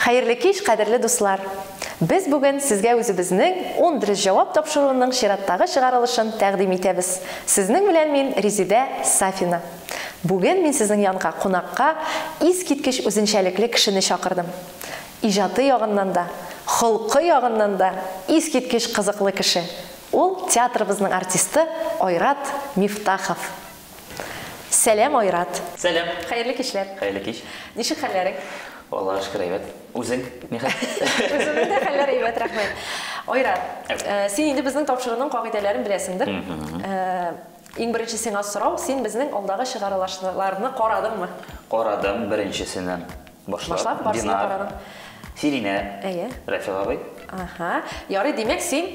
Хәерле кич, кадерле дуслар! Без бүген сезгә үзебезнең 10 дөрес җавап тапшыруының чираттагы чыгарылышын тәкъдим итәбез. Сезнең белән мин Резидә Сафина. Бүген мин сезнең янга кунакка искиткеч үзенчәлекле кешене чакырдым. Иҗаты ягыннан да, холкы ягыннан да искиткеч кызыклы кеше. Ул, театрыбызның артисты Айрат Мифтахов. Сәлам, Айрат! Сәлам! Хәерле кичләр! Хәерле кич! Ничек хәлләрең? Аллага шөкер, әйбәт. Үзең ни хәл? Үземнең дә хәлләр әйбәт, рәхмәт. Айрат, син инде безнең тапшыруның кагыйдәләрен беләсеңдер. Иң беренче сиңа сорау, син безнең алдагы чыгарылышларны карадыңмы? Карадым, беренчесеннән башлап. Башлап, барысын да карадың. Динар, Сиринә, Әйе. Рәфигъ абый. Аһа. Ярый, димәк, син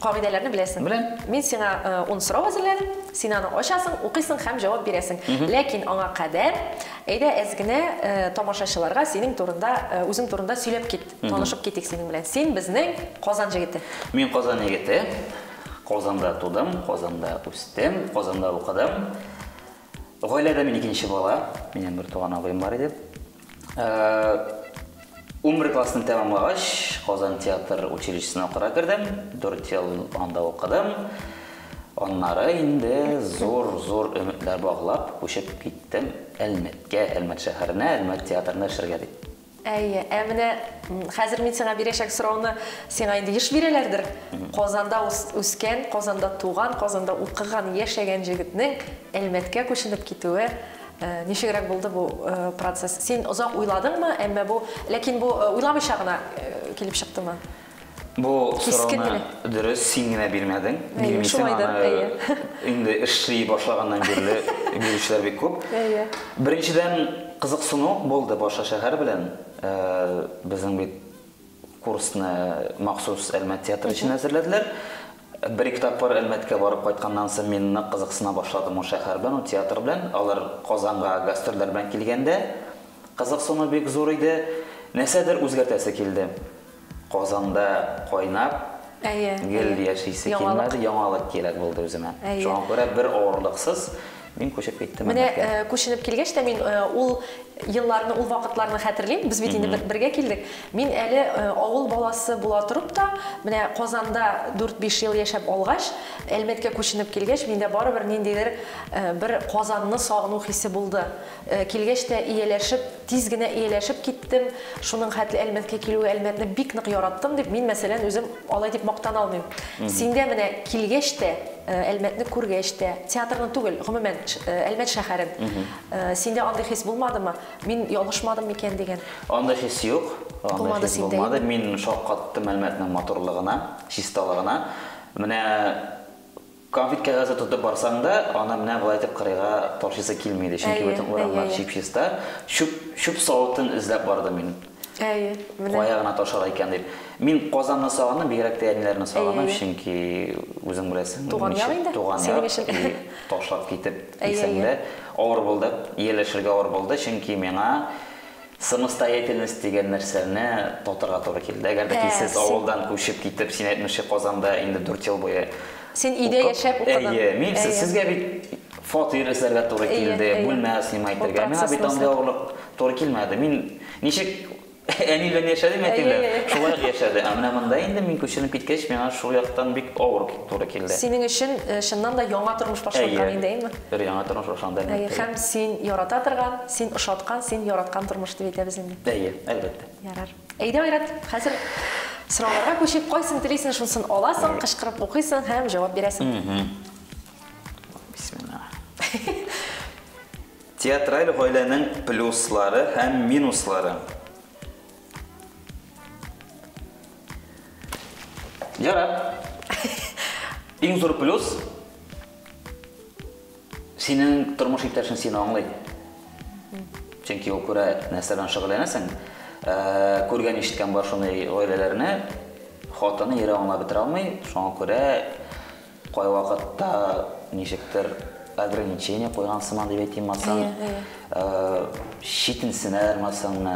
кагыйдәләрне беләсең. Беләм. Мин сиңа ун сорау әзерләдем. Син аны ачасың, укыйсың һәм җавап бирәсең. Ләкин аңа кадәр, әйдә әз генә тамашачыларга синең турында, үзең турында сөйләп кит, танышып китик синең белән. Син безнең Казан җегете. Мин Казан егете. Казанда тудым, Казанда үстем, Казанда укыдым. Гаиләдә мин икенче бала, минем бер туган абыем бар иде. Унбер классны тәмамлагач, Казан театр училищесына укырга кердем, дүрт ел анда укыдым. Аннары инде зур-зур өметләр баглап, күчеп киттем Әлмәткә, Әлмәт шәһәренә, Әлмәт театрында эшләргә дип. Әйе, ә менә хәзер мин сиңа бирәчәк сорауны сиңа инде еш бирәләрдер. Казанда үскән, Казанда туган, Казанда укыган, яшәгән җегетнең Әлмәткә күченеп китүе э, ничегрәк булды бу э, процесс? Син озак уйладыңмы, әмма бу, ләкин бу э, уйламыйча гына килеп чыктымы? Бу сорауны дөрес син генә бирмәдең. Бирмисең аны. Инде эшли башлаганнан бирле бирүчеләр бик күп. Беренчедән, кызыксыну булды башта шәһәр белән. Безнең бит курсны махсус Әлмәт театры өчен әзерләделәр. Бер-ике тапкыр Әлмәткә барып кайтканнан соң мин нык кызыксына башладым ул шәһәр белән, ул театр белән. Алар Казанга гастрольләр белән килгәндә, кызыксыну бик зур иде. Нәрсәдер үзгәртәсе килде. Казанда кайнап, Әйе, гел әйе. яшисе Яңалык. килмәде, яңалык кирәк булды үземә. Әйе. Шуңа күрә бер авырлыксыз мин күчеп киттем Менә Әлмәткә. э, күченеп килгәч тә мин э, ул елларны, ул вакытларны хәтерлим. Без бит инде бер- бергә килдек. Мин әле э, авыл баласы була торып та, менә Казанда дүрт-биш ел яшәп алгач, Әлмәткә күченеп килгәч, миндә барыбер ниндидер э, бер Казанны сагыну хисе булды. Килгәч тә ияләшеп, тиз генә ияләшеп киттем. Шуның хәтле Әлмәткә килүгә Әлмәтне бик нык яраттым, дип мин, мәсәлән, үзем алай дип мактана алмыйм. Синдә менә килгәч тә, Әлмәтне күргәч тә, театрны түгел, гомумән, Әлмәт шәһәрен, синдә андый хис булмадымы? Мин ялгышмадым микән дигән. Андый хис юк. Андый хис булмады. Мин шаккаттым Әлмәтнең матурлыгына, чисталыгына. Менә. Конфет кәгазе тотып барсаң да, аны менә болай итеп кырыйга ташыйсы килми иде, чөнки бөтен урамнар чип-чиста. Чүп, чүп савытын эзләп бардым мин. Әйе, менә. Кая гына ташар икән дип. Мин Казанны сагындым, бигрәк тә әниләрне сагындым, чөнки үзең беләсең, Туган як инде, синең өчен. Туган як, и ташлап китеп килсәң дә авыр булды, ияләшергә авыр булды, чөнки миңа Самостоятельность дигән нәрсәне татырга туры килде. Әгәр дә ки сез авылдан күчеп китеп, син әйтмешә Казанда инде дүрт ел буе Син өйдә яшәп укыдың. Әйе, мин сезгә бит фатир эзләргә туры килде, бүлмә снимать итәргә. Миңа бит андый авырлык туры килмәде. Мин ничек әни белән яшәдем, әти белән, шулай ук яшәде. Ә менә монда инде мин күченеп киткәч, миңа шул яктан бик авыр туры килде. Синең өчен чыннан да яңа тормыш башланган инде, әйеме? Бер яңа тормыш башланды әлмәттәге. Әйе, һәм син ярата торган, син ошаткан, син яраткан тормыш дип әйтәбез инде. Әйе, әлбәттә. Ярар. Әйдә, Айрат, хәзер сорауларга күчик, кайсын телисен, шунсын аласың, кычкырып укыйсың һәм җавап бирәсең. Бисмилла. Театраль гаиләнең плюслары һәм минуслары. Ярар. Иң зур плюс. Синең тормыш иптәшең сине аңлый. Чөнки ул күрә, нәрсә белән шөгыльләнәсең. Ә, Күргән ишеткән бар шундый гаиләләрне, хатыны ире аңлап бетерә алмый, шуңа күрә кайвакытта ничектер ограничение куйган сыман дип әйтим масаң, Әйе, әйе. ә, читенсенәләр масаң, менә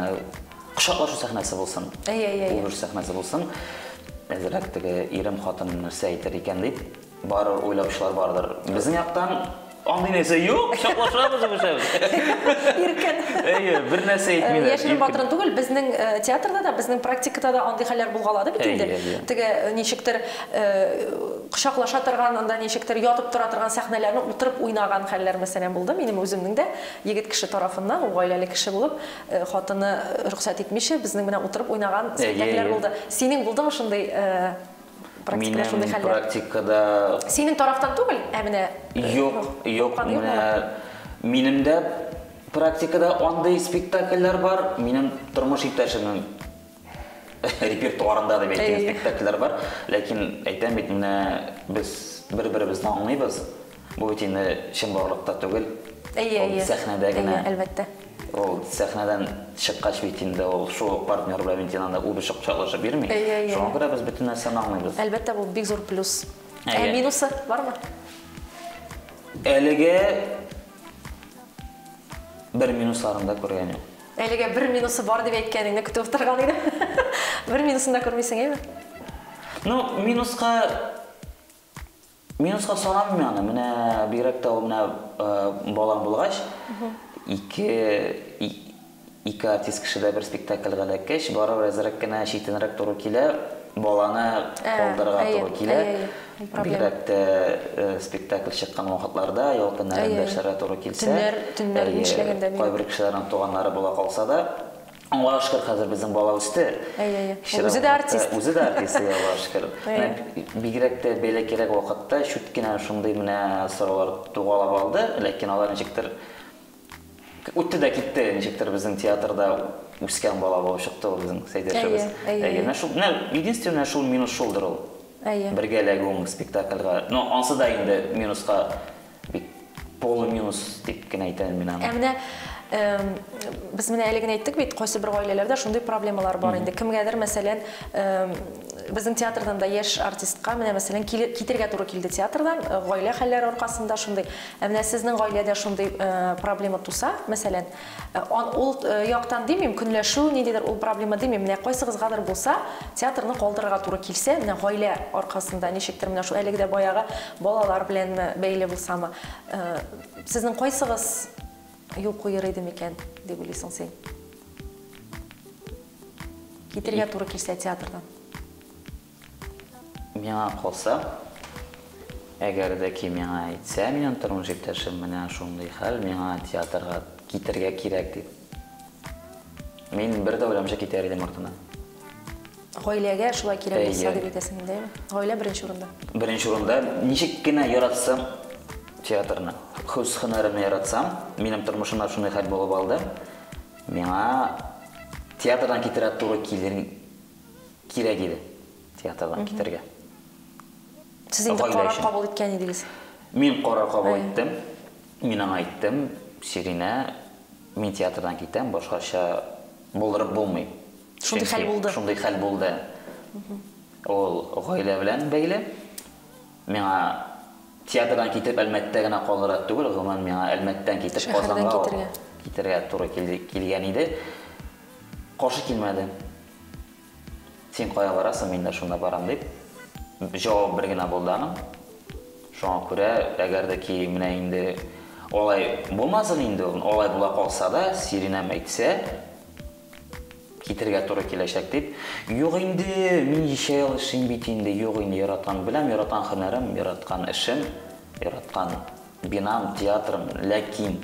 кочаклашу сәхнәсе булсын, Әйе, әйе, әйе. үбеш сәхнәсе булсын, әзрәк теге ирем хатыным нәрсә әйтер икән дип, Барыбер уйлаучылар бардыр. Безнең яктан андый нәрсә юк, кочаклашабыз, үбешәбез. Иркен. Әйе, бер нәрсә әйтмиләр. Яшерен батырын түгел, безнең театрда да, безнең практикада да андый хәлләр булгалады бит инде. Теге ничектер кочаклаша торган, анда ничектер ятып тора торган сәхнәләрне утырып уйнаган хәлләр мәсәлән булды. Минем үземнең дә егет кеше тарафыннан, ул гаиләле кеше булып, хатыны рөхсәт итмичә, безнең белән утырып уйнаган спектакльләр булды. Синең булдымы шундый Практикада шундый Минем хәлләр. практикада Синең тарафтан түгел, ә менә э, Юк, ну, юк, куркану юк менә алардан. минемдә практикада андый спектакльләр бар, минем тормыш иптәшемнең репертуарында дип әйтим Әйе. спектакльләр бар, ләкин әйтәм бит, менә без бер-беребезне аңлыйбыз, Бу бит инде чынбарлыкта түгел. Әйе, әйе. Ул сәхнәдә генә. Әйе, әлбәттә. Ул сәхнәдән чыккач бит инде ул шул ук партнер белән бит инде үбешеп кочаклашып йөрми. Әйе, әйе. Шуңа күрә без бөтен нәрсәне аңлыйбыз. Әлбәттә, бу бик зур плюс. Әйе. Ә минусы бармы? Әлегә бер минусларын да күргән юк. Әлегә бер минусы бар дип әйткәнеңне көтеп утырган идем. Бер минусын да күрмисең, әйеме? Ну, минуска Минуска санамыйм мин аны, менә бигрәк тә ул менә балам булгач, ике, ике артист кешедә бер спектакльгә эләккәч, барыбер әзрәк кенә читенрәк тору килә, баланы калдырырга туры килә. Бигрәк тә спектакль чыккан вакытларда, ял көннәрендә эшләргә туры килсә. Төннәр, төннәр нишләгәндә бит. Кайбер кешеләрнең туганнары була калса да. Аллаһ шөкер, хәзер безнең бала үсте. Әйе, әйе. Үзе дә артист. Үзе дә артист, Аллаһ шөкер. Бигрәк тә бәла кирәк вакытта чүт кенә шундый менә сораулар тугалап алды, ләкин алар ничектер үтте дә китте, ничектер безнең театрда үскән бала булып чыкты ул безнең Сәйдәшебез. Әйе, әйе. Менә шул, менә единственное шул минус шулдыр ул. Әйе. Бергә эләгүең спектакльгә. Но ансы да инде минуска Бик полуминус дип кенә әйтәм мин аны. Ә менә без менә әле генә әйттек бит, кайсы бер гаиләләрдә шундый проблемалар бар инде. Кемгәдер, мәсәлән, безнең театрдан да яшь артистка менә, мәсәлән, китергә туры килде театрдан, гаилә хәлләре аркасында шундый. Ә менә сезнең гаиләдә шундый проблема туса, мәсәлән, Ан ул яктан димим, көнләшү ниндидер ул проблема димим. Менә кайсыгызгадыр булса, театрны калдырырга туры килсә, менә гаилә аркасында ничектер менә шул әлеге дә баягы балалар беләнме бәйле булсамы, сезнең кайсыгыз юл куер иде микән дип уйлыйсың син? Китергә туры килсә театрдан. Миңа калса, әгәр дә ки миңа әйтсә минем тормыш иптәшем, менә шундый хәл, миңа театрга китәргә кирәк дип, мин бер дә уйламыйча китәр идем артыннан. Гаиләгә шулай кирәк булса дип әйтәсең инде, әйеме? Гаилә беренче урында. Беренче урында. Ничек кенә яратсам театрны, үз һөнәремне яратсам, минем тормышымда шундый хәл булып алды, миңа театрдан китәргә туры килер Кирәк иде театрдан китәргә. Сез инде Гаилә карар өчен. кабул иткән идегез. Мин карар кабул Әйе. иттем. Мин аңа әйттем, Сиринә, мин театрдан китәм, башкача булдырып булмый. Шундый хәл Чөнки булды. Шундый хәл булды. Ул гаилә белән бәйле. Миңа театрдан китеп Әлмәттә генә калырга түгел, гомумән, миңа Әлмәттән китеп Шәһәрдән Казанга ук китәргә. китәргә туры килде, килгән иде. Каршы килмәде. Син кая барасың, мин дә шунда барам, дип, җавабы бер генә булды аның. Шуңа күрә, әгәр дә ки менә инде алай булмасын инде ул, алай була калса да, Сиринәм әйтсә, китергә туры киләчәк, дип, юк инде, мин җәй алышыйм бит инде, юк инде, яраткан, беләм, яраткан һөнәрем, яраткан эшем, яраткан бинам, театрым, ләкин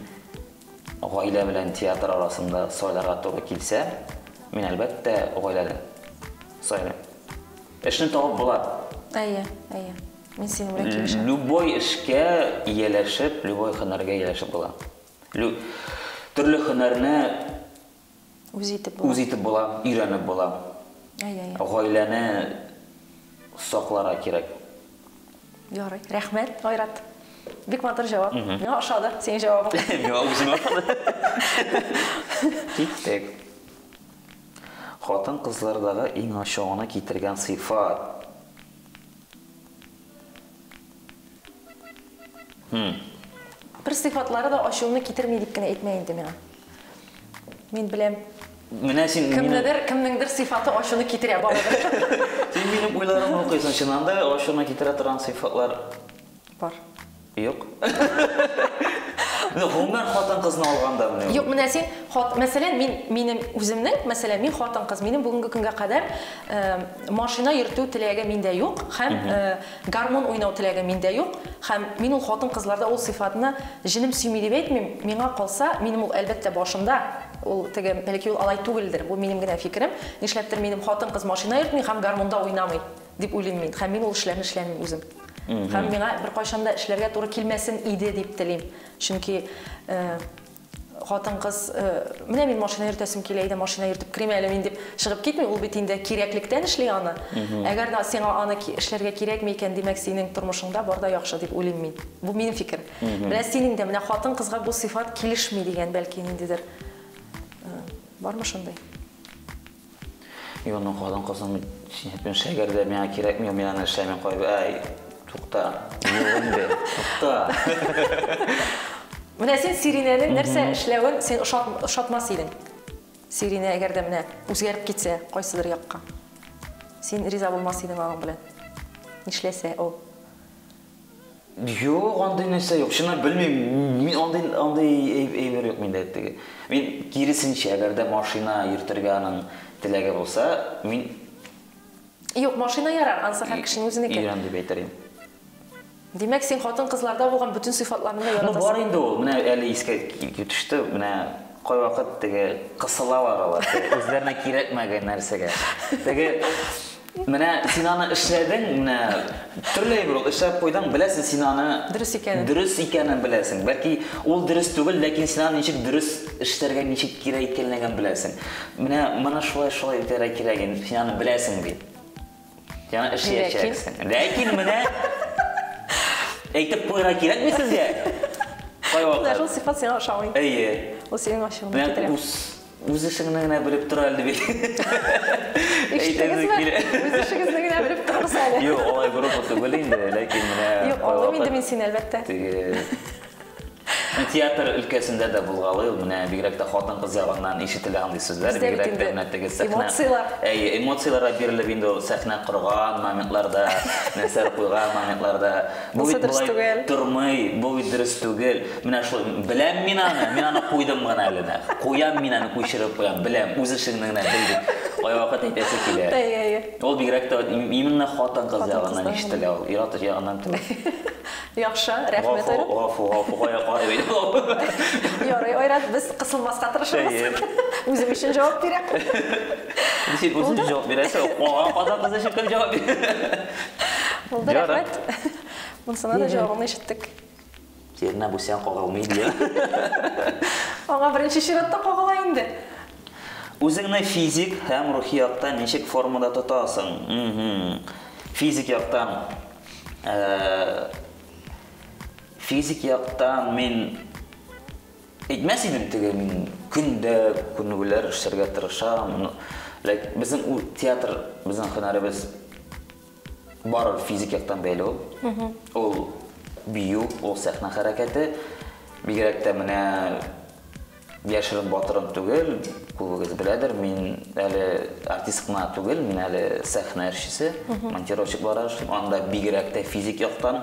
Гаилә белән театр арасында сайларга туры килсә, мин, әлбәттә, гаиләне сайлыйм. Эшне табып була. Әйе, әйе. Мин синең белән килешәм. Любой эшкә ияләшеп, любой һөнәргә ияләшеп була. Төрле һөнәрне үз итеп була. Үз итеп була, өйрәнеп була. Әй-әй. Гаиләне сакларга кирәк. Ярый, рәхмәт, Айрат. Бик матур җавап. Миңа ошады синең җавабың. Миңа үзем ошады. Киттек. Хатын-кызлардагы иң ачуыңны китергән сыйфат. Бер сыйфатлары да ачуны китерми дип кенә әйтмә инде миңа. Мин беләм. Менә син кемнедер, кемнеңдер сыйфаты ачуны китерә барыбер. Син минем уйларымны укыйсың, чыннан да ачуны китерә торган сыйфатлар бар. Юк. Ну, гомумән хатын-кызны алганда менә. Юк, менә син, мәсәлән, мин, минем үземнең, мәсәлән, мин хатын-кыз, минем бүгенге көнгә кадәр машина йөртү теләге миндә юк һәм гармун уйнау теләге миндә юк. Һәм мин ул хатын-кызларда ул сыйфатны җенем сөйми дип әйтмим. Миңа калса, минем ул, әлбәттә, башымда. Ул теге, бәлки ул алай түгелдер, бу минем генә фикерем. Нишләптер минем хатын-кыз машина йөртми һәм гармунда уйнамый. дип уйлыйм мин. Һәм мин ул эшләрне эшләмим үзем. Һәм миңа беркайчан да эшләргә туры килмәсен иде дип телим. Чөнки хатын-кыз, менә мин машина йөртәсем килә, әйдә машина йөртеп керим әле мин дип чыгып китми, ул бит инде кирәклектән эшли аны. Әгәр дә сиңа аны эшләргә кирәкми икән, димәк, синең тормышыңда бар да яхшы дип уйлыйм мин. Бу минем фикер. Менә синең дә, менә хатын-кызга бу сыйфат килешми дигән, бәлки, ниндидер бармы шундый? Юнук хатын кызым син бит шәгәрдә миңа кирәкми ул мин аны эшләмим кайбы әй тукта юк инде тукта Менә син Сиринәнең нәрсә эшләвен син ошатмас идең. Сиринә әгәр дә менә үзгәреп китсә кайсыдыр якка. Син риза булмас идең аның белән. Нишләсә ул. Юк, андый нәрсә юк. Чынлап белмим. Мин андый андый әйбер юк миндә теге. Мин киресенчә, әгәр дә машина йөртергә аның теләге булса, мин Юк, машина ярар, ансы һәр кешенең үзенеке. Өйрән дип әйтер идем. Димәк, син хатын-кызларда булган бүтән сыйфатларны да яратасың. Ну, бар инде ул. Менә әле искә килеп төште. Менә кайвакыт теге кысылалар алар. Үзләренә кирәкмәгән нәрсәгә. Теге Менә син аны эшләдең, менә төрле әйбер ул эшләп куйдың, беләсең, син аны дөрес икәнен. Дөрес икәнен беләсең. Бәлки ул дөрес түгел, ләкин син аны ничек дөрес эшләргә ничек кирәк икәнлеген беләсең. Менә моны шулай шулай итәргә кирәк инде, син аны беләсең бит. Син аны эшләячәксең. Ләкин менә әйтеп куярга кирәкми сезгә. Кайвакыт. Менә шул сыйфат сиңа ошамый. Әйе. Ул синең ачуыңны китерә. Менә ус Үз эшеңне генә белеп тор әле, дип әйтәсе килә. Үз эшегезне генә белеп торыгыз әле. Юк, алай группа түгел инде, ләкин менә Юк, алым инде мин син, әлбәттә. Теге театр өлкәсендә дә булгалый ул. Менә бигрәк тә хатын-кыз ягыннан ишетелә андый сүзләр, бигрәк тә менә теге сәхнә. Эмоцияләр. Әйе, эмоцияләргә бирелеп инде ул сәхнә корган моментларда, нәрсәләр куйган моментларда. Бу бит болай тормый, бу бит дөрес түгел. Менә шул, беләм мин аны, мин аны куйдым гына әле дә. Куям мин аны, күчереп куям, беләм, үз эшеңне генә бел дип. Кайвакыт әйтәсе килә. Әйе, әйе. Ул бигрәк тә именно хатын-кыз ягыннан ишетелә ул, ир-ат ягыннан түгел. Яхшы, рәхмәт. Гафу, гафу, гафу, кая карый бит ул. Ярый, Айрат, без кысылмаска тырышабыз. Әйе. Үзем өчен җавап бирәм. Син үзең җавап бирәсең. Аңа казак кызы өчен кем җавап бирә? Булды, рәхмәт. Монысына да җавабыңны ишеттек. Тирнә бүсән кагылмый дигән. Аңа беренче чиратта кагыла инде. Үзеңне физик һәм рухи яктан ничек формада тотасың? Физик яктан, физик яктан мин... Әйтмәс идем теге мин көндә күнегүләр эшләргә тырышам, но ләк безнең ул театр, безнең һөнәребез бары физик яктан бәйле ул. Ул бию, ул сәхнә хәрәкәте. Бигрәк тә менә яшерен батырым түгел, күбегез беләдер, мин әле артист кына түгел, мин әле сәхнә эшчесе, монтировщик буларак эшлим, анда бигрәк тә физик яктан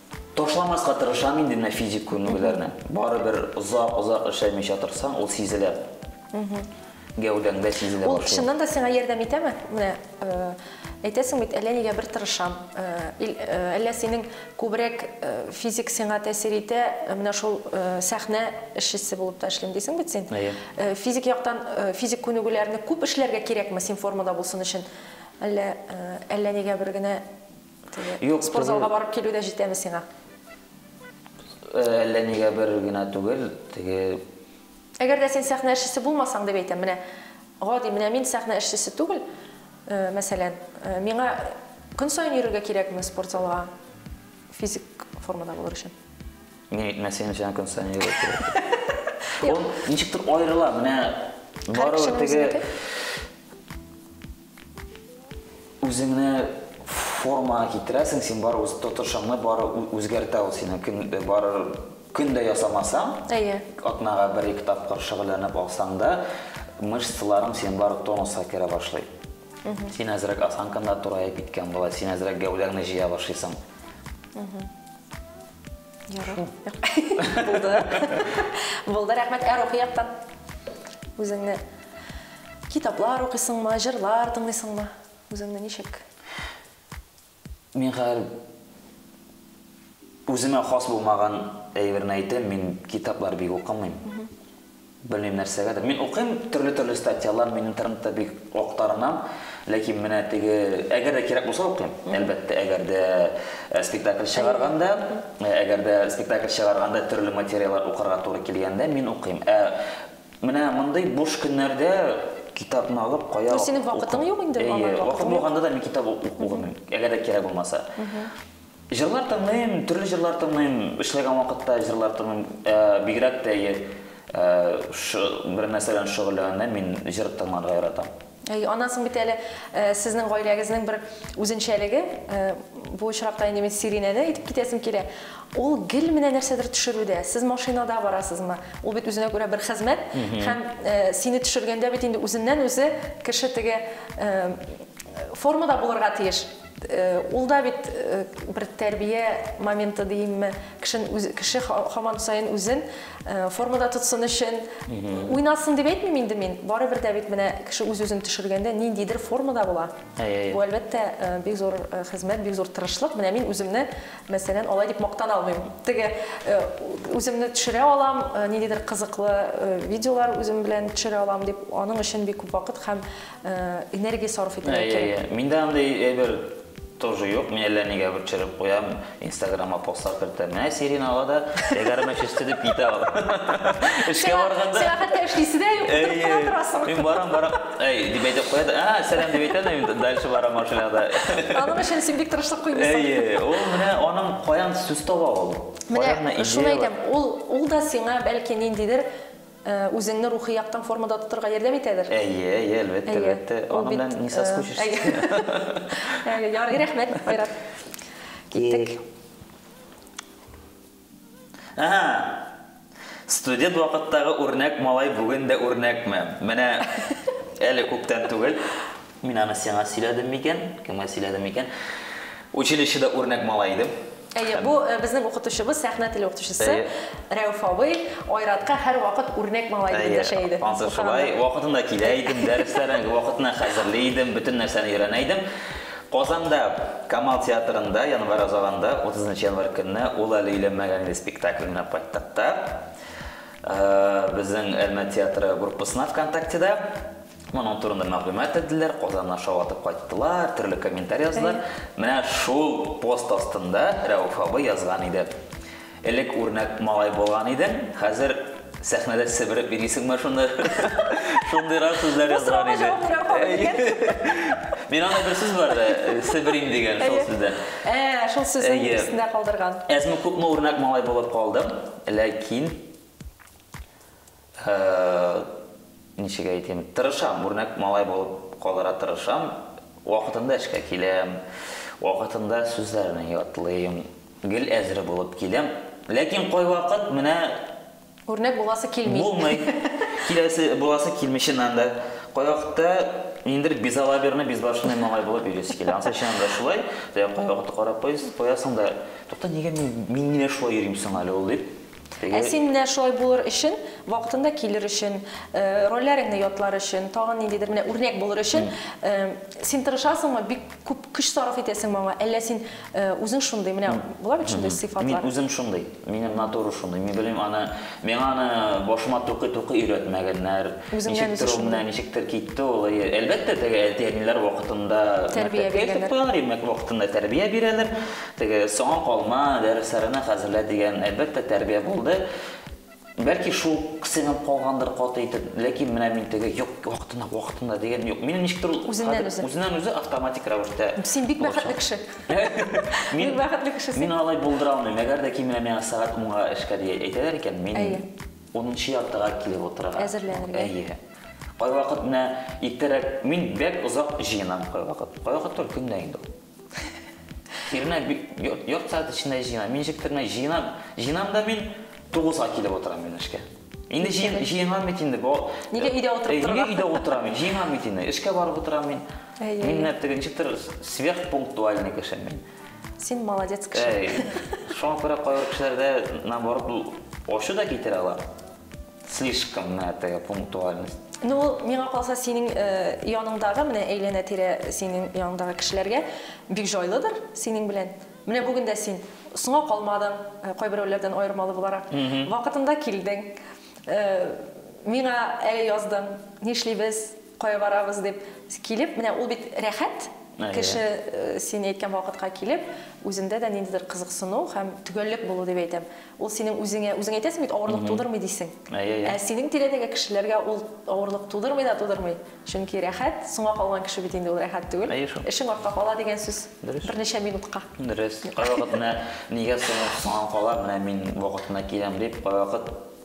Ташламаска тырышам инде менә физик күнегүләрне. Барыбер озак-озак эшләмичә торсаң, ул сизелә. Гәүдәңдә сизелә башлый. Ул чыннан да сиңа ярдәм итәме? Менә әйтәсең бит, әллә нигә бер тырышам. Әллә синең күбрәк физик сиңа тәэсир итә, менә шул сәхнә эшчесе булып та эшлим дисең бит син. Физик яктан, физик күнегүләрне күп эшләргә кирәкме син формада булсын өчен? Әллә әллә нигә бер генә? Юк, спорт залга барып килү дә җитәме сиңа? Э, әллә нигә бер генә түгел, теге Әгәр дә син сәхнә эшчесе булмасаң, дип әйтәм, менә гади, менә мин сәхнә эшчесе түгел, э, мәсәлән, э, миңа көн саен йөрергә кирәкме спорт залга физик формада булыр өчен? Ни бит, мәсәлән, җан көн саен йөрергә кирәк. Ул ничектер аерыла, менә барыбер теге Үзеңне формага китерәсең, син бары үз тотышыңны бары үзгәртә ул сине. Көн бары көн дә ясамасаң, Әйе. атнага бер-ике тапкыр шөгыльләнеп алсаң да, мышцаларың синең бары тонуска керә башлый. Син әзрәк осанкаң да тураеп киткән була, син әзрәк гәүдәңне җыя башлыйсың. Булды. Булды, рәхмәт. Ә рухи яктан? Үзеңне китаплар укыйсыңмы, җырлар тыңлыйсыңмы? Үзеңне ничек? Мин хәзер үземә хас булмаган әйберне әйтәм, мин китаплар бик укымыйм. Белмим нәрсәгәдер. Мин укыйм төрле-төрле статьялар, мин интернетта бик актарынам, ләкин менә теге әгәр дә кирәк булса укыйм. Әлбәттә, әгәр дә э, спектакль чыгарганда, э, әгәр дә спектакль чыгарганда төрле материаллар укырга туры килгәндә мин укыйм. Ә менә мондый буш көннәрдә китапны алып кая Ну, синең вакытың юк инде, Әйе, вакыт булганда да мин китап укымыйм, әгәр дә кирәк булмаса. Җырлар тыңлыйм, төрле җырлар тыңлыйм, эшләгән вакытта җырлар тыңлыйм. Бигрәк тә әйе, шы бер нәрсә белән шөгыльләгәндә мин җыр тыңларга яратам. Әйе, аннан соң бит әле сезнең гаиләгезнең бер үзенчәлеге, бу очракта инде мин Сиринәне әйтеп китәсем килә, ул гел менә нәрсәдер төшерүдә. Сез машинада барасызмы? Ул бит үзенә күрә бер хезмәт һәм сине төшергәндә бит инде үзеннән-үзе кеше теге формада булырга тиеш. Ул да бит бер тәрбия моменты диимме, кешен үз, кеше хаман саен үзен формада тотсын өчен, уйнасын дип әйтмим инде мин, барыбер дә бит менә кеше үз-үзен төшергәндә ниндидер формада була. Бу әлбәттә бик зур хезмәт, бик зур тырышлык. Менә мин үземне, мәсәлән, алай дип мактана алмыйм. Теге үземне төшерә алам, ниндидер кызыклы видеолар үзем белән төшерә алам дип, аның өчен бик күп вакыт һәм энергия сарыф итәргә Әйе, кирәк. әйе. Миндә андый әйбер тоже юк. Мин әллә нигә бер төшереп куям, инстаграмга постлар кертәм. Менә Сирин ала да егерме чөсте дип китә ул. Эшкә барганда. Сиңа хәтта эшлисе дә юк, утырып кына торасың. Мин барам, барам, әй, дип әйтеп куя да, а, сәлам дип әйтәм дә мин дальше барам машинада. Аның өчен син бик тырышлык куймыйсың. Әйе, ул менә аның каян сүз таба ул? Менә шуны әйтәм, ул да сиңа бәлки ниндидер Үзеңне рухи яктан формада тотырга ярдәм итәдер? Әйе, әйе, әлбәттә, әлбәттә. Аның белән не соскучишься. Әйе. Ярый, рәхмәт, Айрат. Киттек. Әһә. Студент вакыттагы үрнәк малай бүген дә үрнәкме? Менә әле күптән түгел Мин аны сиңа сөйләдем микән, кемгә сөйләдем микән? Училищеда үрнәк малай идем. Әйе, бу э, безнең укытучыбыз, сәхнә теле укытучысы Рәүф абый Айратка һәрвакыт үрнәк малай дип дәшә иде. Ансы шулай, вакытында килә идем, дәресләрен вакытына хәзерли идем, бөтен нәрсәне өйрәнә идем. Казанда Камал театрында январь азагында 30 январь көнне ул әле өйләнмәгән иде спектакль уйнап кайттык та. Э, безнең Әлмәт театры группасына ВКонтактеда Моның турында мәгълүмат бирделәр, Казаннан шаулатып кайттылар, төрле комментарий яздылар. Менә шул пост астында Рәүф абый язган иде. Элек үрнәк малай булган идең, хәзер сәхнәдә себереп йөрисеңме шундый шундыйрак сүзләр язган иде. Бу сорауга җавап бирергә кирәк түгел. Мин анда бер сүз бар да, себерим дигән шул сүздән. Ә, шул сүзне исендә калдырган. Әзме-күпме үрнәк малай булып калдым, ләкин Ә, ничек әйтим, тырышам, үрнәк малай булып калырга тырышам. Вакытында эшкә киләм, вакытында сүзләрне ятлыйм, гел әзер булып киләм. Ләкин кайвакыт менә. Үрнәк буласы килми. Булмый. Киләсе, буласы килми, чыннан да. Кайвакытта ниндидер безалаберный, безбашенный малай булып йөрисе килә. Анысы чыннан да шулай. Кайвакытта карап куясың да, тукта, нигә мин, мин генә шулай йөрим соң әле ул, дип. Ә син менә шулай булыр өчен, вакытында килер өчен, э, рольләреңне ятлар өчен, тагын ниндидер менә үрнәк булыр өчен, э, син тырышасыңмы, бик күп көч сарыф итәсеңме аңа, әллә син э, үзең шундый, менә була бит шундый сыйфатлар. Мин үзем шундый, минем натура шундый, мин белмим аны, миңа аны башыма тукый-тукый өйрәтмәгәннәр. Үзеңнән үзе шундый. Ничектер китте ул. Әлбәттә, теге әти-әниләр вакытында тәрбия биргәннәр. Вакытында тәрбия бирәләр. Теге саң калма, дәресләреңне хәзерлә дигән, әлбәттә, тәрбия булды. Бәлки шул сеңеп калгандыр каты итеп, ләкин менә мин теге, юк, вакытында, вакытында дигән юк. Минем ничектер ул хәзер үзеннән-үзе автоматик рәвештә. Син бик бәхетле кеше. Бик бәхетле кеше син. Мин алай булдыра алмыйм. Әгәр дә кимендә миңа сәгать унга эшкә дип әйтәләр икән, мин унынчы яртыга килеп утырырга. Әзерләнергә. Әйе. Кайвакыт менә иртәрәк, мин бик озак җыенам кайвакыт. Кайвакыт түгел, көндә инде ул. Тирмә йорт сәгать эчендә җыена. Мин ничек тирмә җыенам? Җыенам да мин 9-га килеп утырам мин эшкә. Инде җыенган бит инде. Нигә өйдә утырып торам? Нигә өйдә утырам мин? Җыенган бит инде. Эшкә барып утырам мин. Мин нәрсә ничектер сверхпунктуальный кеше мин. Син молодец кеше. Шуңа күрә кайбер кешеләрдә наоборот ул ачу да китерә алар. Слишком на это пунктуальность. Ну, миңа калса, синең яныңдагы, менә әйләнә-тирә синең яныңдагы кешеләргә бик җайлыдыр синең белән. Менә бүген дә син соңа калмадың, кайберәүләрдән аермалы буларак. Вакытында килдең. Миңа әле яздың. Нишлибез? Кая барабыз дип килеп, менә ул бит рәхәт, кеше син әйткән вакытка килеп, үзендә дә ниндидер кызыксыну һәм төгәллек булу дип әйтәм. Ул синең үзеңә, үзең әйтәсең бит, авырлык тудырмый дисең. Ә синең тирәдәге кешеләргә ул авырлык тудырмый да тудырмый. Чөнки рәхәт, соңга калган кеше бит инде ул рәхәт түгел. Эшең артка кала дигән сүз берничә минутка. Дөрес. Кайвакыт менә нигә соңга кала, менә мин вакытында киләм дип, кайвакыт.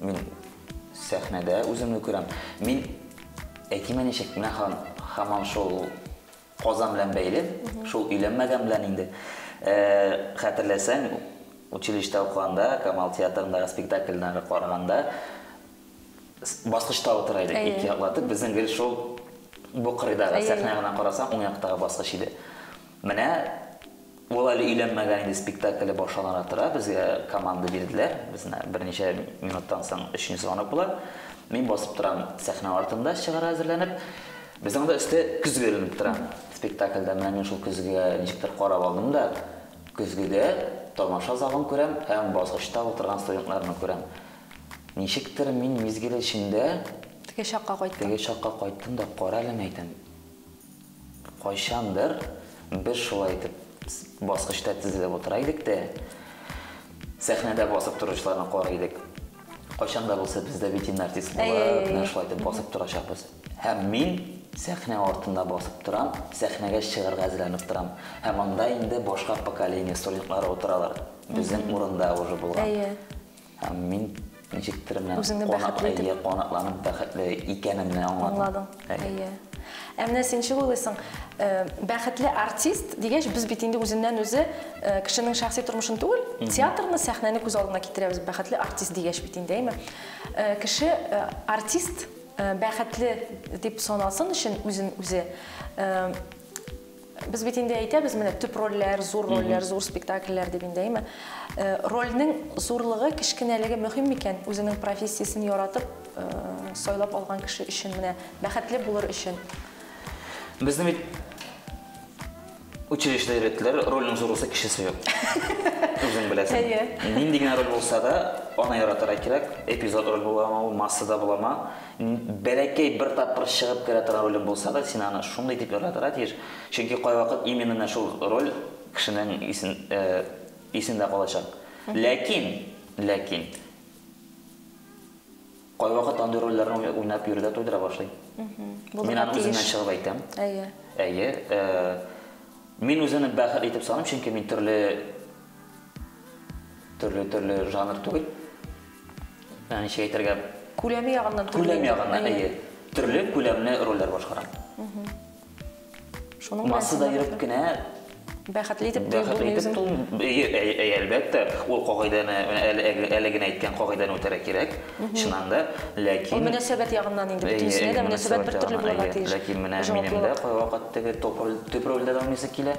Мин сәхнәдә үземне күрәм. Мин әйтимә ничек, менә хамам шул Казан белән бәйле, шул өйләнмәгән белән инде. Хәтерләсәң, училищта укыганда, Камал театрындагы спектакльләрне караганда, баскычта утыра идек, ике яклатып, безнең гел шул бу кырыйдагы сәхнә генә карасаң, уң яктагы баскыч иде. Менә Ул әле өйләнмәгән иде, спектакле башланырга тора, безгә команда бирделәр, безне берничә минуттан соң өченче звонок була. Мин басып торам сәхнә артында чыгарга әзерләнеп. Без анда өстә көзге эленеп тора. Спектакльдә менә мин шул көзгегә ничектер карап алдым да, көзгедә тамаша залын күрәм һәм баскычта утырган студентларны күрәм. Ничектер мин мизгел эчендә. Теге чакка кайттың. Теге чакка кайттым да, карале мәйтәм. Кайчандыр без шулай итеп баскычта тезелеп утыра идек тә, сәхнәдә басып торучыларны карый идек. Кайчан да булса без дә бит инде артист булып, менә шулай итеп басып торачакбыз. Һәм мин сәхнә артында басып торам, сәхнәгә чыгарга әзерләнеп торам. Һәм анда инде башка поколение столиклары утыралар, безнең урында уже булган. Һәм мин ничектер менә Үзеңне бәхетле итеп. Әйе, канатланып бәхетле икәнемне аңладым. Аңладың. Әйе. Ә менә син ничек уйлыйсың, бәхетле артист дигәч, без бит инде үзеннән-үзе кешенең шәхси тормышын түгел, театрны, сәхнәне күз алдына китерәбез, бәхетле артист дигәч бит инде, әйме? Кеше артист бәхетле дип санасын өчен үзен үзе Без бит инде әйтәбез, менә төп рольләр, зур рольләр, зур спектакльләр дип инде, әйме? Э, рольнең зурлыгы, кечкенәлеге мөһим микән? Үзенең профессиясен яратып, э, сайлап алган кеше өчен менә бәхетле булыр өчен. Безне бит училищеда өйрәттеләр, рольнең зурлысы кеше сөю. Үзең беләсең. Әйе. Нинди генә роль булса да, аны яратырга кирәк. Эпизод роль булама, ул массада булама, Бәләкәй бер тапкыр чыгып керә торган ролең булса да, син аны шундый итеп яратырга тиеш, чөнки кайвакыт именно менә шул роль кешенең исен, э, исендә калачак. Ләкин, ләкин, кайвакыт андый рольләрне уйнап йөрү дә туйдыра башлый. Мин аны үземнән чыгып әйтәм. Әйе. Әйе. Э, мин үземне бәхетле итеп саныйм, чөнки мин төрле, төрле, төрле жанр түгел. Ә ничек әйтергә? Күләме ягыннан төрле. Күләм ягыннан, әйе. Төрле күләмле рольләр башкарам. Шуның белән Массада йөреп кенә бәхетле итеп туу булмый үзен. Әйе, әлбәттә, ул кагыйдәне, менә әле генә әйткән кагыйдәне үтәргә кирәк, чыннан да, ләкин. Ул мөнәсәбәт ягыннан инде, бөтенесенә дә мөнәсәбәт бер төрле булырга тиеш. Ләкин менә минем дә кайвакыт теге төп рольдә дә уйныйсы килә.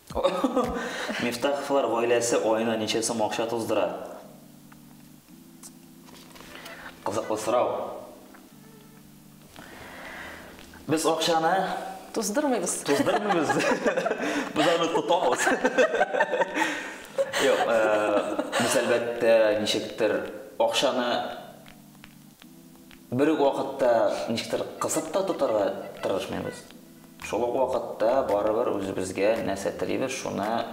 Мифтаховлар гаиләсе аена ничә сум акча туздыра? Кызыклы сорау. Без акчаны Туздырмыйбыз. туздырмыйбыз. Без аны тотабыз. Юк, э, без әлбәттә ничектер акчаны бер үк вакытта ничектер кысып та тотарга тырышмыйбыз. Шул ук вакытта барыбер үзебезгә нәрсә телибез, шуны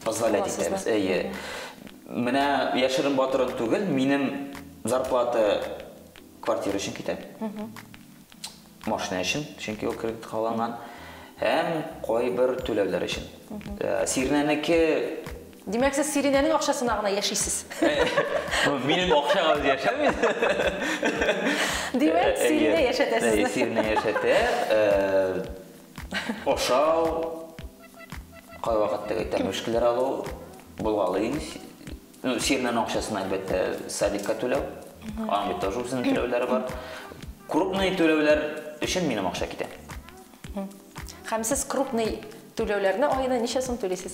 позволять итәбез. Әйе. Менә яшерен-батырын түгел, минем зарплата квартира өчен китә. Машина өчен, чөнки ул кредитка алынган. Һәм кайбер түләүләр өчен. Сирнәнеке Димәк, сез Сиринәнең акчасына гына яшисез. Минем акчага үзе яшәми. Димәк, Сиринә яшәтә сезне. Сиринә яшәтә. Ашау, кайвакытта тәмләшкәләр алу, булгалый. Ну, Сиринәнең акчасына, әлбәттә, садикка түләү. Аның бит тоже үзенең түләүләре бар. Крупный түләүләр өчен минем акча китә. Һәм сез крупный түләүләрне аена ничә сум түлисез?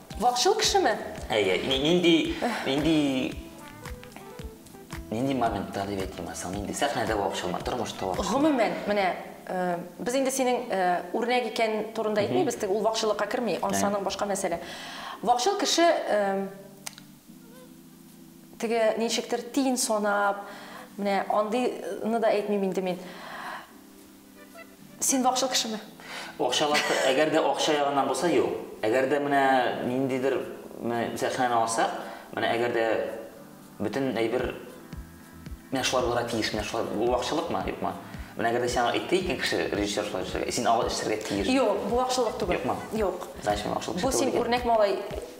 Вакчыл кешеме? Әйе, нинди, нинди, нинди моментта дип әйтим соң, нинди сәхнәдә вакчылмы, тормышта вакчылмы? Гомумән, менә э, без инде синең э, үрнәк икән турында әйтмибез, теге ул вакчылыкка керми, ансаның башка мәсьәлә. Вакчыл кеше э, теге ничектер тиен санап, менә андыйны да әйтмим инде мин. Син вакчыл кешеме? Акчалат, әгәр дә акча ягыннан булса, юк. Әгәр дә менә ниндидер зәрханәне алсак, менә әгәр дә бөтен әйбер менә шулай булырга тиеш, менә шулай бу вакчылыкмы, юкмы? Менә әгәр дә сиңа әйтте икән кеше, режиссер шулай эшләргә, син алай эшләргә тиеш. Юк, бу вакчылык түгел. Юкмы? Юк. Значит, вакчылык түгел. Бу син үрнәк малай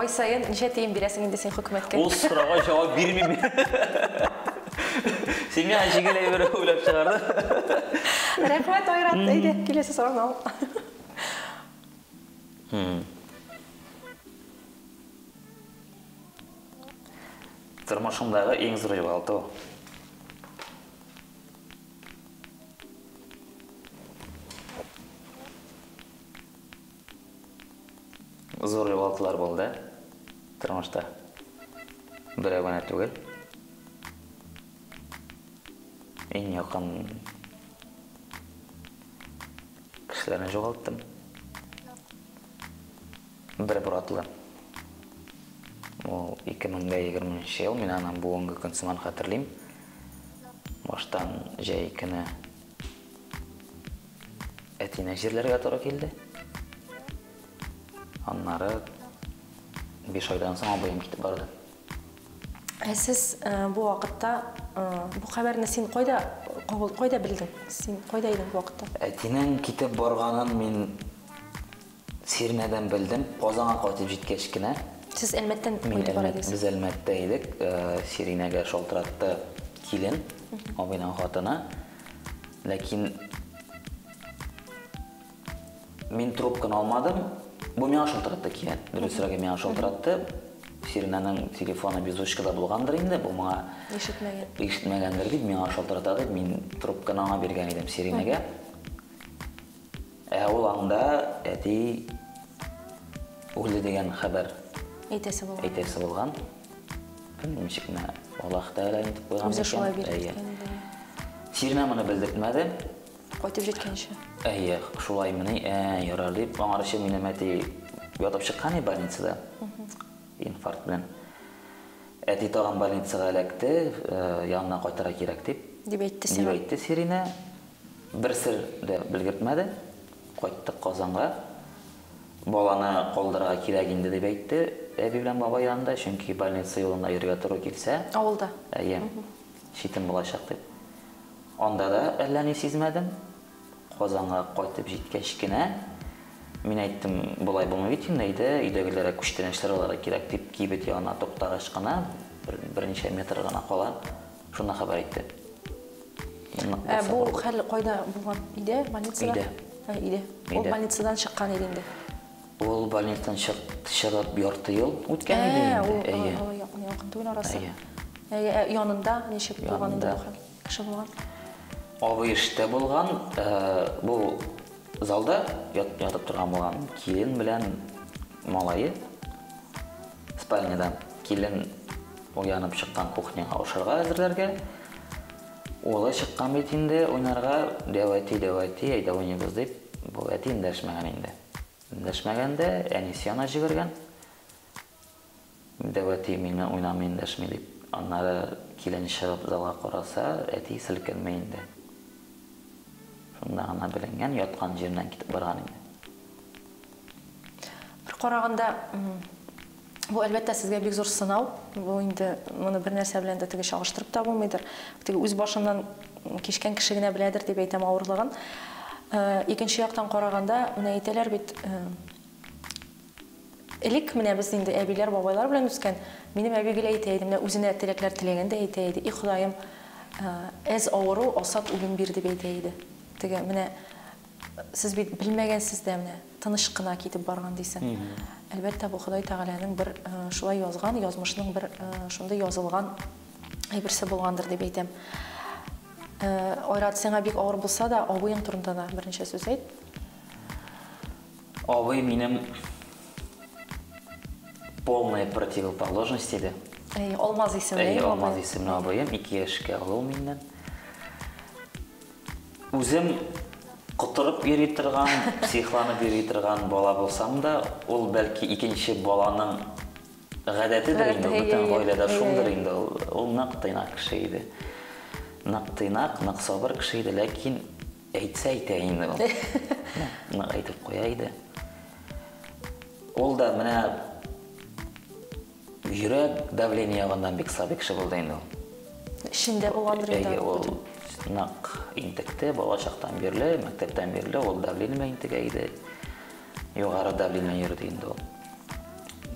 Ай саен ничә тиен бирәсең инде син хөкүмәткә? Ул сорауга җавап бирмим. Син миңа җиңел әйбер уйлап чыгардың. Рәхмәт, Айрат. Әйдә, киләсе сорауны ал. Тормышыңдагы иң зур югалту? Зур югалтулар булды тормышта. Берәү генә түгел. Иң якын кешеләрне жогалттым. Бер братлы. Ул 2023 ел, мин аны бүгенге көн сыман хәтерлим. Баштан җәй көне Әтине җирләргә туры килде. Аннары биш айдан соң абыем китеп барды. Ә сез бу вакытта, бу хәбәрне син кайда кабул, кайда белдең? Син кайда идең бу вакытта? Әтинең китеп барганын мин Сирмәдән белдем, Казанга кайтып җиткәч кенә. Сез Әлмәттән кайтып бара идегез. Без Әлмәттә идек, Сиринәгә шалтыратты килен, абыйның хатыны. Ләкин мин трубканы алмадым, бу миңа шалтыратты килен. Дөресрәге миңа шалтыратты. Сиринәнең телефоны безучкада булгандыр инде, бу моңа ишетмәгән. Ишетмәгәндер дип миңа шалтырата дип мин трубканы аңа биргән идем Сиринәгә. Ә ул аңда әти үлде дигән хәбәр әйтәсе булган. Әйтәсе булган. Белмим ничек кенә Аллаһ Тәгалә әйтеп куйган. Үзе шулай биргән. Сиренә моны белдертмәде. Кайтып җиткәнче. Әйе, шулай мени, ә, ярар дип, аңарчы минем әти ятып чыккан и больницада. Инфаркт белән. Әти тагын больницага эләкте, янына кайтарга кирәк дип. Дип әйтте сиңа. Дип әйтте Сиринә. Бер сер дә белгертмәде. Кайттык Казанга. Баланы калдырырга кирәк инде, дип әйтте әби белән бабай янында, чөнки больница юлында йөрергә туры килсә. Авылда. Әйе. Читен булачак дип. Анда да әллә ни сизмәдем. Казанга кайтып җиткәч кенә мин әйттем, болай булмый бит инде, әйдә, өйдәгеләргә күчтәнәчләр алырга кирәк, дип, кибет янына туктагач кына, берничә метр гына кала. Шуннан хәбәр итте. Ә бу хәл кайда булган? Өйдә, больницада? Өйдә. Ә, өйдә. Ул больницадан чыккан иде инде. Ул больницадан чыгып ярты ел үткән иде инде. Әйе. Ул якын түгел арасы. Әйе. Ә янында ничек булган инде бу хәл? Кеше булган? Абый эштә булган, бу залда ятып торган булган. Килен белән малае. Спальняда килен уянып чыккан кухняга ашарга әзерләргә. Улы чыккан бит инде уйнарга, дәвәти, дәвәти, әйдә уйныйбыз дип, бу әти эндәшмәгән инде. Эндәшмәгәндә әнисе янына җигергән. Дәвәти мине уйнамый, эндәшми дип. Аннары килен чыгып залга караса, әти селкенми инде. Шунда гына беленгән, яткан җиреннән китеп барган инде. Бер караганда, бу, әлбәттә, сезгә бик зур сынау. Бу инде, моны бернәрсә белән дә теге чагыштырып та булмыйдыр. Теге үз башыннан кичкән кеше генә беләдер, дип әйтәм, авырлыгын. Икенче яктан караганда, менә әйтәләр бит, элек менә без инде әбиләр, бабайлар белән үскән, минем әби гел әйтә иде, менә үзенә теләкләр теләгән дә әйтә иде, И Ходаем, әз авыру, асат үлем бир, дип әйтә иде. Теге, менә, Сез бит белмәгәнсез дә менә, тыныч кына китеп барган дисең. Әлбәттә, бу Ходай Тәгаләнең бер шулай язган, язмышның бер шундый язылган әйберсе булгандыр дип әйтәм. Айрат, сиңа бик авыр булса да, абыең турында да берничә сүз әйт. Абый минем полная противоположность иде. Әй, Алмаз исемле. Әй, Алмаз исемле абыем, ике яшькә олы ул миннән. Үзем котырып йөри торган, психланып йөри торган бала булсам да, ул бәлки икенче баланың гадәтедер инде, бөтен гаиләдә шундыр инде ул. Ул нык тыйнак кеше иде. Нык тыйнак, нык сабыр кеше иде, ләкин әйтсә әйтә инде ул. Нык әйтеп куя иде. Ул да менә Йөрәк давление ягыннан бик слабый кеше булды инде ул. Эчендә булгандыр инде. Әйе, ул нык интекте, балачактан бирле, мәктәптән бирле ул давлениемә интегә иде. Югары давление йөрде инде ул.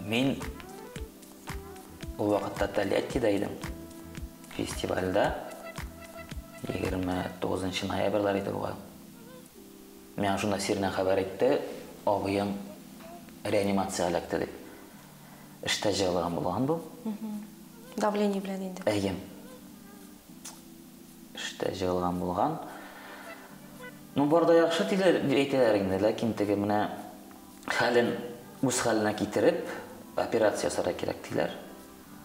Мин ул вакытта Тольяттида идем. Фестивальдә 29 ноябрьләр иде бугай. Миңа шунда Сиринә хәбәр итте, абыең реанимациягә эләкте дип. Эштә җайлаган булган бу. Давление белән инде. Әйе. Эштә җайлган булган. Ну, бар да яхшы диләр, әйтәләр инде, ләкин теге менә хәлен үз хәленә китереп, операция ясарга кирәк диләр.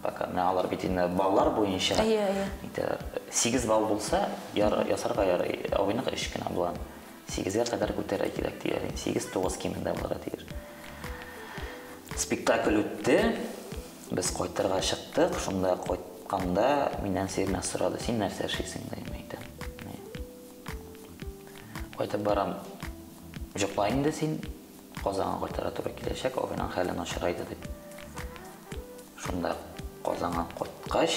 Пока менә алар бит инде баллар буенча. Әйе, әйе. Әйтәләр, 8 балл булса, ясарга ярый. Ә уйнык эш кенә була. Сигезгә кадәр күтәрә кирәк диләр инде. Сигез, тугыз кимендә булырга тиеш. Спектакль үтте. Без кайтырга чыктык. Шунда кайтканда миннән Сирина сорады, син нәрсә эшлисең да инде әйтәм. Кайтып барам. Җокла инде син. Казанга кайтырга туры киләчәк, абыйның хәле начарайды дип. Шунда Казанга кайткач,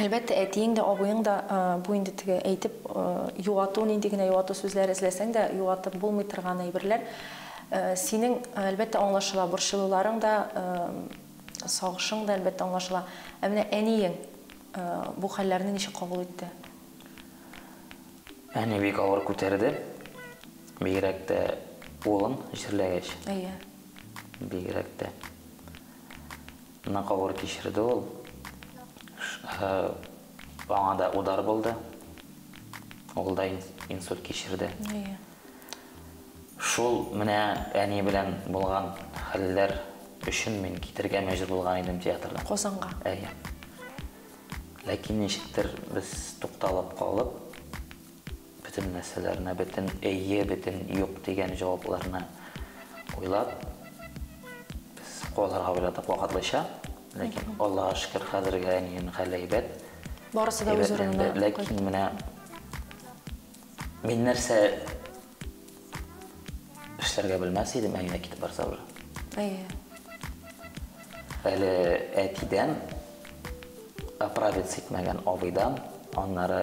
Әлбәттә, әтиең дә, абыең да бу инде теге әйтеп юату, нинди генә юату сүзләр эзләсәң дә, юатып булмый торган әйберләр. Синең, әлбәттә, аңлашыла, борчылуларың да, сагышың да, әлбәттә, аңлашыла. Ә менә әниең бу хәлләрне ничек кабул итте? Әни бик авыр күтәрде. Бигрәк тә улын җирләгәч. Әйе. Бигрәк тә. Нык авыр кичерде ул. Аңа да удар булды. Ул да инсульт кичерде. Шул менә әни белән булган хәлләр өчен мин китергә мәҗбүр булган идем театрдан. Казанга. Әйе. Ләкин ничектер без тукталып калып, Бөтен нәрсәләренә бөтен әйе, бөтен юк дигән җавапларны уйлап, без куаларга уйладык вакытлыча. Ләкин, Аллага шөкер, хәзергә әнием хәле әйбәт. Барысы да үз урынына кайтты. Ләкин менә мин нәрсә эшләргә белмәс идем, әни дә китеп барса уже. Әйе. Әле әтидән, оправиться итмәгән абыйдан, аннары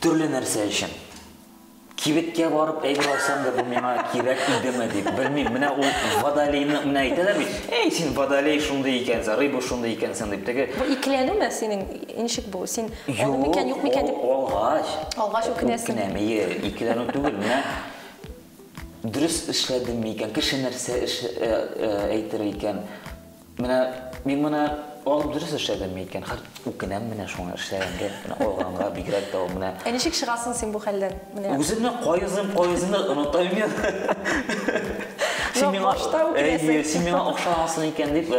Төрле нәрсә өчен. Кибеткә барып әйбер алсам да, бу миңа кирәк идеме дип, белмим. Менә ул водолейны менә әйтәләр бит. Эй, син водолей шундый икәнсең, рыба шундый икәнсең дип. Теге Бу икеләнүме синең? Ничек бу? Син алу микән, юк микән дип. Юк, алгач. Алгач үкенәсең. Үкенәм, ие. Икеләнү түгел, менә дөрес эшләдемме икән, кеше нәрсә әйтер икән? Менә мин моны алып дөрес эшләдемме икән? Хәт үкенәм менә шуңа эшләгәнгә, менә алганга бигрәк тә ул менә. Ә ничек чыгасың син бу хәлдән? Менә. Үзем менә кайызым, кайызымны онытам я. Син миңа башта үкенәсең. Әйе, син миңа охшамасын икән дип,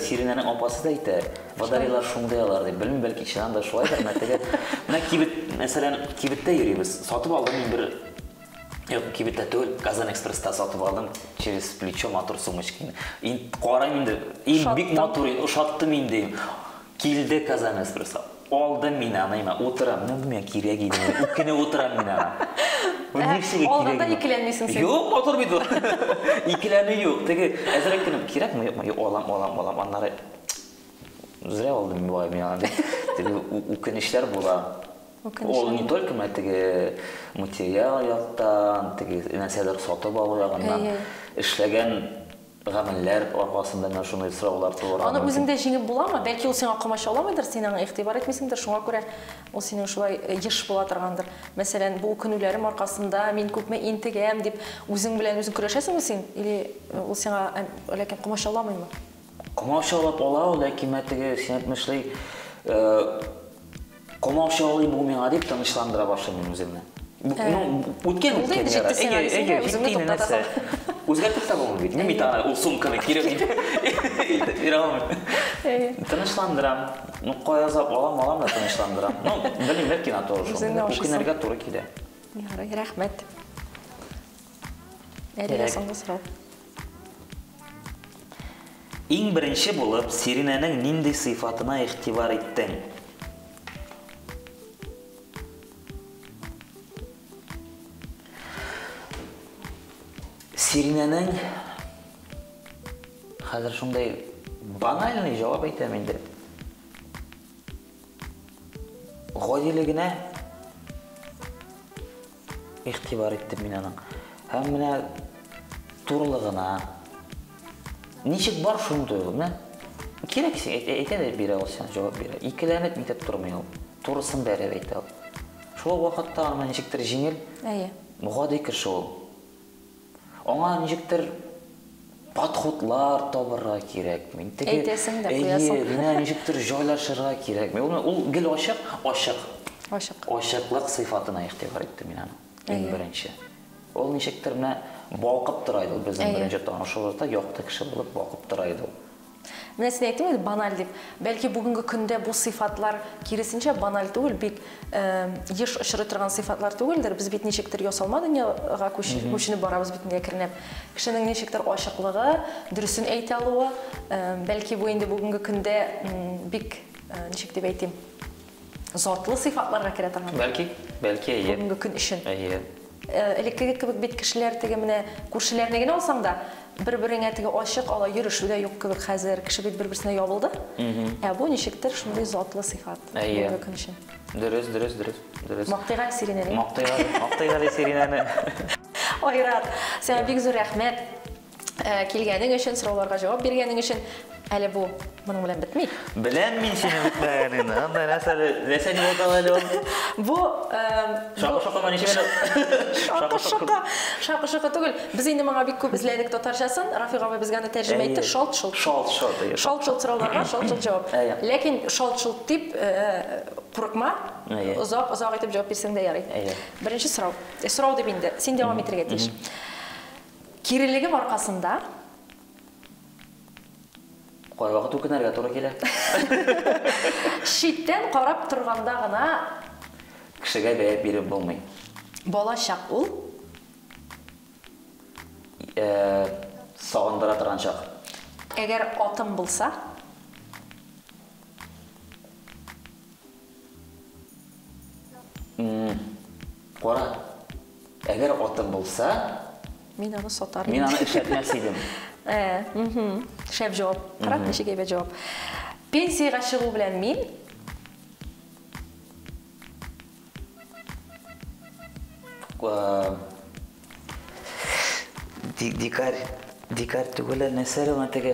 Сиринәнең апасы да әйтә. Водорилар шундый алар дип. Белмим, бәлки чыннан да шулайдыр, менә теге. Менә кибет, мәсәлән, кибеттә йөрибез. Сатып алдым мин бер. Юк, кибеттә түгел, Казан Экспресста сатып алдым. Через плечо матур сумочканы. Ин карам инде, ин бик матур, ошаттым инде. Килде Казан Экспресса. Алдым мин аны, мин утырам. Ну, миңа кирәк иде. Үкенеп утырам мин аңа. Бу ни өчен кирәк? Алдында икеләнмисең син. Юк, матур бит ул. Икеләнү юк. Теге әзрәк кенә кирәкме, юкмы? Юк, алам, алам, алам. Аннары зря алдым мин бай миңа. Теге үкенечләр була. Ул не только менә теге материал яктан, теге нәрсәләр сатып алу ягыннан эшләгән гамәлләр аркасында менә шундый сораулар туарга мөмкин. Аны үзеңдә җиңеп буламы? Бәлки ул сиңа комачауламыйдыр, син аңа игътибар итмисеңдер, шуңа күрә ул синең шулай еш була торгандыр. Мәсәлән, бу үкенүләрем аркасында мин күпме интегәм дип үзең белән үзең көрәшәсеңме син? Или ул сиңа ләкин комачауламыймы? Комачаулап ала, ләкин менә теге син әйтмешли, Комаучы алый бу миңа дип тынычландыра башлый мин үземне. Ну, үткән үткән инде җитте сиңа, әйе, әйе, җитте инде нәрсә. Үзгәртеп тә булмый бит. Мин бит ана ул сумканы кире бирә алмыйм. Тынычландырам. Ну, каязап алам, алам да тынычландырам. Ну, белмим, бәлки натура шундый. Үкенергә туры килә. Ярый, рәхмәт. Әле дә соңгы сорау. Иң беренче булып Сиринәнең нинди сыйфатына игътибар иттең? Сиринәнең хәзер шундый банальный җавап әйтәм инде. Гадилегенә Игътибар иттем мин аның. Һәм менә турлыгына. Ничек бар шундый ул, менә. Кирәк сиңа әйтә дә бирә ул сиңа җавап бирә. Икеләнеп нитеп тормый ул. Турысын бәреп әйтә ул. Шул вакытта аңа ничектер җиңел. Әйе. Гади кеше ул. Аңа ничектер подходлар табырга кирәкми. Теге, Әйтәсең дә куясың. Әйе, менә ничектер җайлашырга кирәкми. Ул, ул гел ачык, ачык. Ачык. Ачыклык сыйфатына игътибар иттем мин аның, иң беренче. Ул ничектер менә балкып тора иде ул безнең беренче танышуыбызда, якты кеше булып балкып тора иде ул. Менә син әйттең бит, баналь дип. Бәлки бүгенге көндә бу сыйфатлар киресенчә баналь түгел, бик еш очрый торган сыйфатлар түгелдер. Без бит ничектер ясалма дөньяга күченеп барабыз бит инде әкренләп. Кешенең ничектер ачыклыгы, дөресен әйтә алуы, бәлки бу инде бүгенге көндә бик, ничек дип әйтим, Затлы сыйфатларга керә торган. Бәлки, бәлки, әйе. Бүгенге көн өчен. Әйе. Элеккеге кебек бит кешеләр теге менә күршеләрне генә алсаң да, бер-береңә теге ачык ала йөрешү дә юк кебек хәзер. Кеше бит бер-берсенә ябылды. Ә бу ничектер шундый затлы сыйфат бүгенге көн өчен. Дөрес, дөрес, дөрес, дөрес. Мактыйк әле Сиринәне. Мактыйк, мактыйк әле Сиринәне. Айрат, сиңа бик зур рәхмәт. Э, килгәнең өчен, сорауларга җавап биргәнең өчен. Әле бу моның белән бетми. Беләм мин синең бетмәгәнеңне. Анда нәрсә нәрсә дип атала әле ул? Бу Шакы-шока мә ничек әле? Шакы-шока. Шакы-шока түгел. Без инде моңа бик күп эзләдек татарчасын. Рафик абый безгә аны тәрҗемә итте. Шалт-шолт. Шалт-шолт. Шалт-шолт сорауларга шалт-шолт җавап. Ләкин шалт-шолт дип э, курыкма. Озак-озак итеп җавап бирсәң дә ярый. Беренче сорау. Э, сорау дип инде. Син дәвам итергә тиеш. Кирелегем аркасында. Кайвакыт үкенергә туры килә. Читтән карап торганда гына. Кешегә бәя биреп булмый. Балачак ул. Сагындыра торган чак. Әгәр атым булса. Кара. Әгәр атым булса, Мин аны сатар мин идем. аны эшләтмәс идем. Ә, мгм. Шәп җавап. Карап, ничек әйбәт җавап. Пенсиягә чыгу белән мин Э, ди- Дикарь, дикарь түгел, ә нәрсә әле ул теге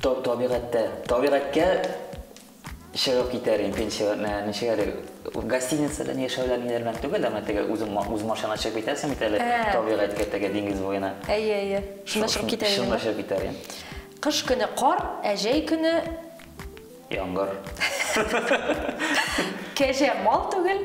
та- табигатьтә? Табигатькә Чыгып китәр идем, пенсиягә, менә ничек әле, гостиницадан яшәүләр ниләр белән түгел, әмма теге үзең үз машинаңа чыгып китәсең бит әле табигатькә, теге диңгез буена. Әйе, әйе. Шунда чыгып китәр идеме? Шунда чыгып китәр идем. Кыш көне кар, ә җәй көне? Яңгыр. Кәҗә мал түгел.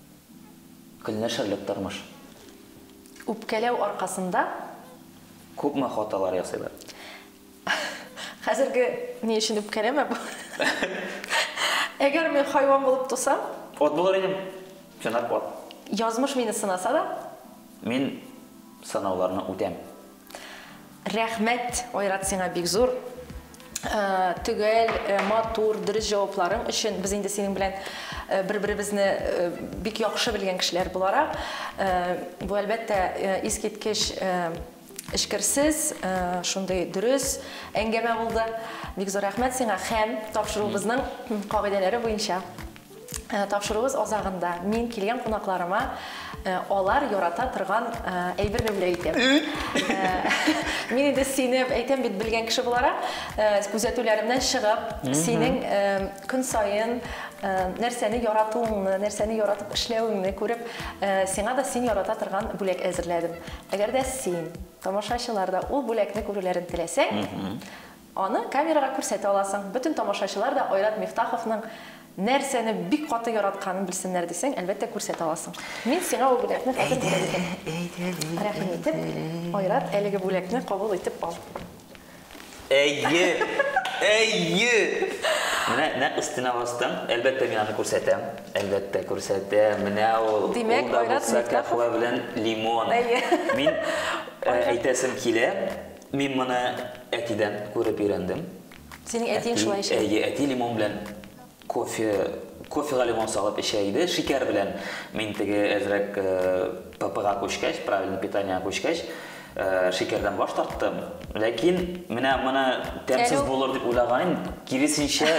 Көнләшерлек тормыш. Үпкәләү аркасында. Күпме хаталар ясыйлар. Хәзерге ни өчен үпкәләмә бу. Әгәр мин хайван булып тусам. Ат булыр идем, чынлап ат. Язмыш мине сынаса да. Мин сынауларны үтәм. Рәхмәт, Айрат, сиңа бик зур. Төгәл, матур, дөрес җавапларың өчен. Без инде синең белән бер-беребезне бик яхшы белгән кешеләр буларак, бу, әлбәттә, искиткеч эчкерсез, шундый дөрес әңгәмә булды. Бик зур рәхмәт сиңа һәм тапшыруыбызның кагыйдәләре буенча. Тапшыруыбыз азагында мин килгән кунакларыма алар ярата торган әйберне бүләк итәм. Мин инде сине әйтәм бит белгән кеше буларак, күзәтүләремнән чыгып, синең көн саен нәрсәне яратуыңны, нәрсәне яратып эшләвеңне күреп, сиңа да син ярата торган бүләк әзерләдем. Әгәр дә син, тамашачылар да ул бүләкне күрүләрен теләсәң, Аны камерага күрсәтә аласың, бөтен тамашачылар да Айрат Мифтаховның нәрсәне бик каты яратканын белсеннәр дисең, әлбәттә, күрсәтә аласың. Мин сиңа ул бүләкне хәзер бүләк итәм. Рәхим итеп, Айрат, әлеге бүләкне кабул итеп ал. Әйе! Әйе! Менә нәкъ өстенә бастың. Әлбәттә, мин аны күрсәтәм. Әлбәттә, күрсәтәм. Менә ул, ул да булса кәхвә белән лимон. Мин әйтәсем килә. Мин моны әтидән күреп өйрәндем. Синең әтиең шулай эчә? Әйе, әти лимон белән кофе, кофега лимон салып эчә иде, шикәр белән. Мин теге әзрәк ППга күчкәч, правильное питаниега күчкәч, шикәрдән баш тарттым. Ләкин менә моны тәмсез булыр дип уйлаган идем, киресенчә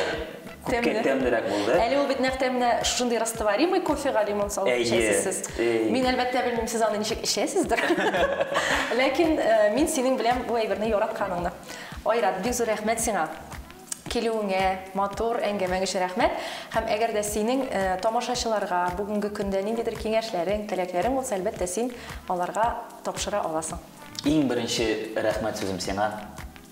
Күпкә тәмлерәк булды. Әле ул бит нәкъ тә менә шушындый растворимый кофега лимон салып эчәсез сез. Мин, әлбәттә, белмим, сез аны ничек эчәсездер. Ләкин мин синең белән бу әйберне яратканыңны. Айрат, бик зур рәхмәт сиңа. Килүеңә, матур әңгәмәң өчен рәхмәт. Һәм әгәр дә синең тамашачыларга бүгенге көндә ниндидер киңәшләрең, теләкләрең булса, әлбәттә, син аларга тапшыра аласың. Иң беренче рәхмәт сүзем сиңа.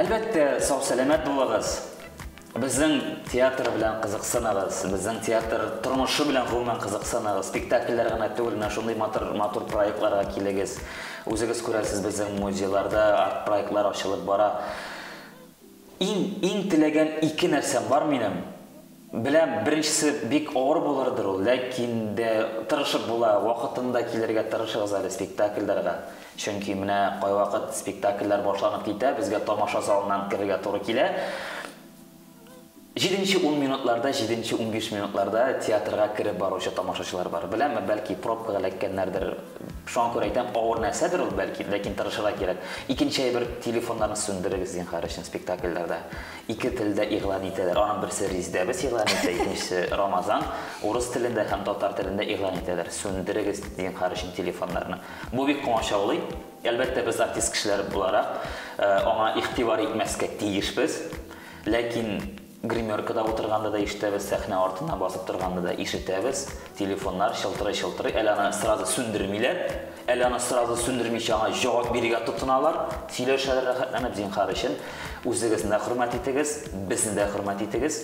Әлбәттә, сау-сәламәт булыгыз. Безнең театр белән кызыксыныгыз, безнең театр тормышы белән гомумән кызыксыныгыз. Спектакльләр генә түгел, менә шундый матур-матур проектларга килегез. Үзегез күрәсез, безнең музейларда арт-проектлар ачылып бара. Иң, иң теләгән ике нәрсәм бар минем. Беләм, беренчесе бик авыр булырдыр ул, ләкин дә тырышып була, вакытында килергә тырышыгыз әле спектакльләргә. Чөнки менә кайвакыт спектакльләр башланып китә, безгә тамаша залыннан керергә туры килә. Җиденче ун минутларда, җиденче унбиш минутларда театрга кереп баручы тамашачылар бар. Беләм, бәлки пробкага эләккәннәрдер, шуңа күрә әйтәм, авыр нәрсәдер ул, бәлки, ләкин тырышырга кирәк. Икенче әйбер, телефоннарны сүндерегез, зинһар өчен, спектакльләрдә. Ике телдә игълан итәләр. Аның берсе Риздә без игълан итә, икенчесе Рамазан. Урыс телендә һәм татар телендә игълан итәләр. Сүндерегез, зинһар өчен, телефоннарны. Бу бик комачаулый. Әлбәттә, без артист кешеләре буларак, аңа игътибар итмәскә тиешбез. Ләкин гримеркада утырганда да ишетәбез, сәхнә артына басып торганда да ишетәбез. Телефоннар чылтырый-чылтырый, әле аны сразу сүндермиләр, әле аны сразу сүндермичә аңа җавап бирергә тотыналар, сөйләшәләр рәхәтләнеп, зинһар өчен, үзегезне дә хөрмәт итегез, безне дә хөрмәт итегез,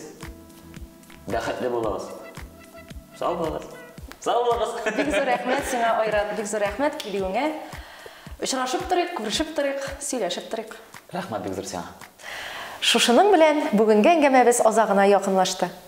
бәхетле булыгыз. Саулыгыз. Саулыгыз. Бик зур рәхмәт сиңа, Айрат, бик зур рәхмәт килүеңә. Очрашып торыйк, күрешеп торыйк, сөйләшеп торыйк. Рәхмәт бик зур сиңа. Шушының белән бүгенге әңгәмәбез азагына якынлашты.